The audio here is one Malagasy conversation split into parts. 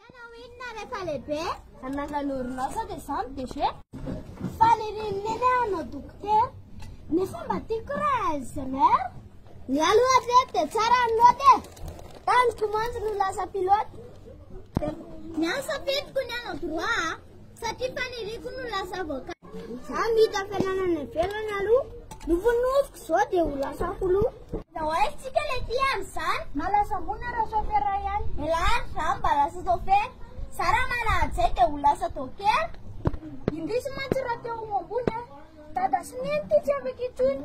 Ianao inona rehefa lehibe? Hanangana orinasa dia za no DG. Faly ry Neny hanao dokotera. Nefa mba tiako raha ingénieur. Ny ahy aloha hatreto dia tsara ny note e. Taniko mantsy no lasa pilote. Ny ahy safidiko ny hanao droit. Satria faniriako no lasa avocat. Za mita fiananana ivelany aloha no vonoziko zao de ho lasa holoha. Zao aiza tsika le tia amzany. Malasa mona ra chauffeur ihany. Elah za mba lasa chauffeur. Za ra manahady zay de ho lasa dokera. Indrisy mantsy ra te ho ambony a. Dada sy neny ty tsy afaka intsony.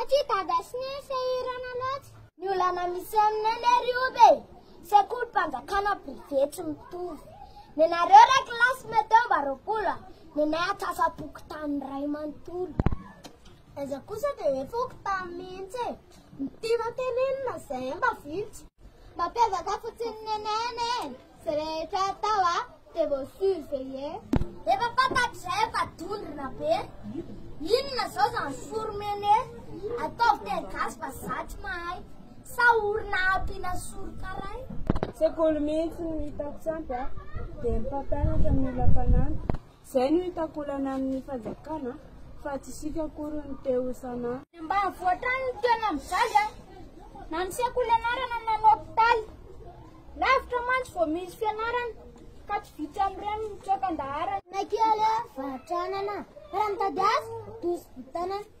Aty dada sy neny sahirana loatra. Ny olana misy aminay le ry oby e, sekolim-panjakana privé tsy mitovy. Nenareo re kilasy mety eo mba roapolo a, nenay antsasam-pokontany iray manontolo. Aiza kosa dia hoe fokontany mihitsy e, ny tiana tenenina izay mba vitsy. Mampiavaka fotsiny nenay anie e, Zay rehetra tao a dia vao surveiller. Efa fantatr'izay fa dondrona be. Inona zao zany sourmene? Ataovy teny gasy fa za tsy mahay. Sa orona ampiana sourkaray? Sekoly mihitsy no hitako tsy ampy a. Dia ny mpampianatra no mila mpanampy. Zay no hitako olana amin'ny fanjakana fa tsy isika akory no te ho sana. Ny ambanivohitra any no tena mijaly an! Na ny sekoly anarana na ny hopitaly. Lavitra mantsy vao misy fianarana ka tsy vitsy amin'ireny no mitsoaka an-daharana. Ny kely an, vahatr'anana, raha mitady asa, doso vitanana.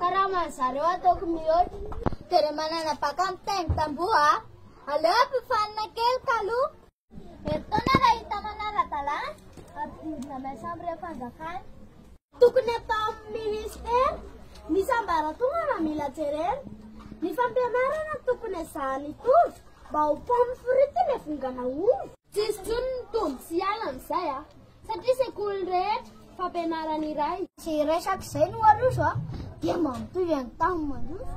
Karaman'ny zareo ataoko mihoatra. Dia re manana baka mitaingy tamboho a! Aleo ampifanina kely kaloha. Herintaona raha hita manara-dalàna, ampidirina main chambre fanjakana. Tokony atao amin'ny ministera ny sambaratonga raha mila jerena. Ny fampianarana tokony ezahana hitovy mba ho pomme frite ilay vongana ovy. Tsisy intsony ny tondro sy ala amin'izay a! Satria sekoly rehetra, fampianarana iray. Tsy resaka izay no aroso a, dia mampitovy an'i tam mandroso.